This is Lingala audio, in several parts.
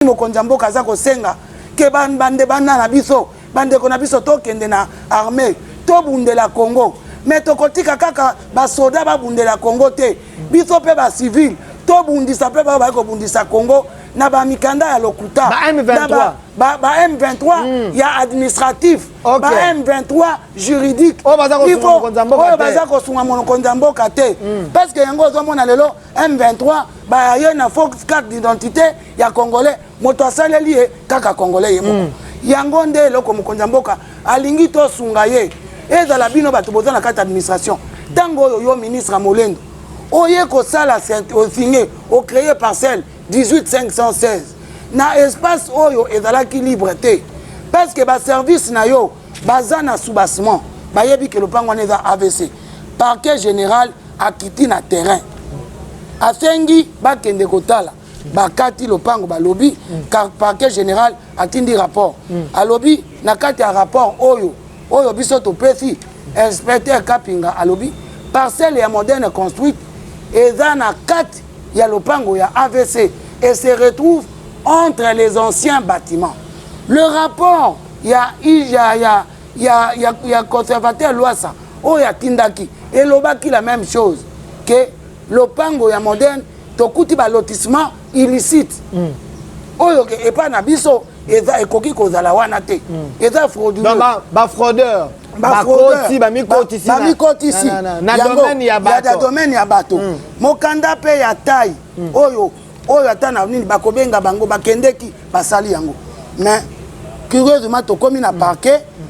soki mokonzi ya mboka aza kosenga ke bande bana na biso bandeko na biso tokende na armée tobundela congo me tokotika kaka basoda babundela congo te biso mpe bacivile tobundisa mpe baoyo baye kobundisa congo na bamikanda ya lokuta ba M23, ba, ba, ba M23 mm. ya administratif okay. ba M23 juridique oyo baza kosunga mokonzi ya mboka te mm. parce que yango ozomona lelo M23 baye na faux carte d'identité ya congolais moto asaleli ye kaka congolais ye moko mm. yango nde eloko mokonzi ya mboka alingi tosunga ye ezala bino bato boza na kati ya administration ntango oyo yo ministre ya molendo oye kosala osinge ocreye parcelle 18516 na espace oyo ezalaki libre te parce que baservice na yo baza na soubassement bayebi ke lopango wana eza avc parquet général akiti na terrain asengi bakende kotala bakati lopango balobi parquet général atindi rapport alobi na kati ya rapport oyo oyo biso topesi inspecteur kapinga alobi parcelle ya moderne construite eza na kati ya lopango ya avc et se retrouve entre les anciens bâtiments le rapport ya, ya, ya, ya, ya, ya conservateur lwasa oyo atindaki elobaki la même chose ke lopango ya moderne tokuti ba lotissement illicite mm. oyo epai na biso eza ekoki kozala wana te mm. eza frauduleux ba fraudeur bakoti bamikotisi na domaine ya bato domaine ya bato mm. mokanda mpe ya tai mm. oyo oyo ata na nini bakobenga bango bakendeki basali yango mais curieusement tokomi na mm. parquet mm.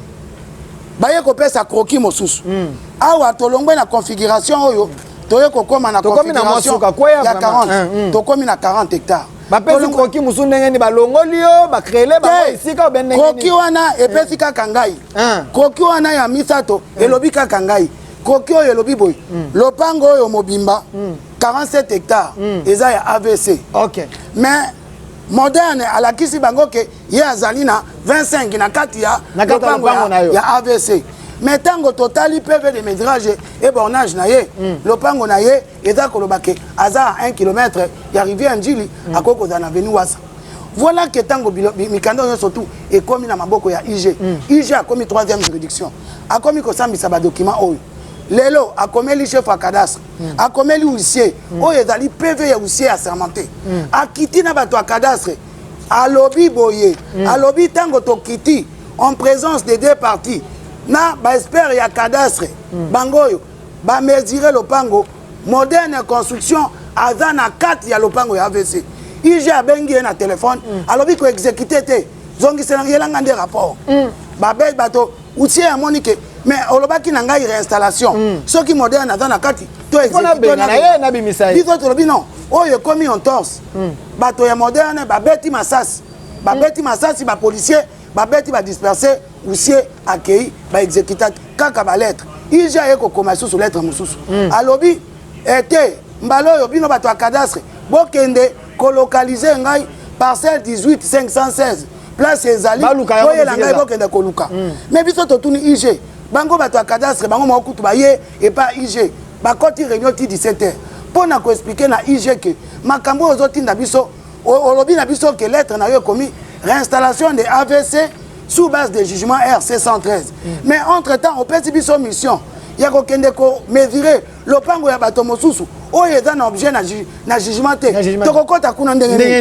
baye kopesa kroki mosusu mm. awa tolongwe na configuration oyo toye kokoma na configuration ya 40 tokomi na 40 hectare bapesi koki mosusu ndenge nini balongoli yo bakrele bango esika obe ndenge koki wana epesi kaka ngai koki wana ya misato elobi kaka ngai koki oyo elobi boye hmm. lopango oyo mobimba 47 hmm. hectare hmm. eza ya avc mais moderne alakisi bango ke ye azali na 25 na kati ya lopango ya, ya avc me ntango totali pv de medrage e bornage na ye mm. lopango na ye eza koloba ke aza a 1 kilometre ya rivière njili mm. akoki kozala na veni wasa voilà ke ntango mikanda nyonso tu ekomi na maboko ya ig mm. ig akomi 3e juridiction akomi kosambisa badocument oyo lelo akomeli chef ya cadastre mm. akomeli huissier mm. oyo ezali pv ya huissier assermenté mm. akiti na bato ya cadastre alobi boye mm. alobi ntango tokiti en présence des deux parties na baexpert ya cadastre mm. bango oyo bamesure lopango moderne construction aza na kati ya lopango ya avc ig abengi ye na telefone mm. alobi koexekute te zongisela yelanga nde rapport mm. babe bato utie amoni ke mais olobaki na ngai réinstallation mm. soki moderne aza na kati to exécutebiso tolobi non oyo ekomi en torse mm. bato ya moderne babeti masasi babeti mm. masasi bapolicier babeti badisperse usie akei baexécuta kaka balettre ig aye kokoma lisusu lettre mosusu mm. alobi ete eh, mbala oyo bino bato ya cadastre bokende kolokalize ngai parcelle 18 516 place ezali oyela ngai bokende koluka mm. mais biso totuni ig bango bato ya cadastre bango moko kutu baye epa ig bakoti réunion ti 17 heures mpo na koexplike na ig ke makambo oyo ozotinda biso olobi na biso ke lettre na yo ekomi réinstallation de avc sous base de jugement rc 113 mm. mais entre temps opesi biso mission ya kokende komesure lopango ya bato mosusu oyo eza na objet na jugement te tokokɔta kuna ndenge nini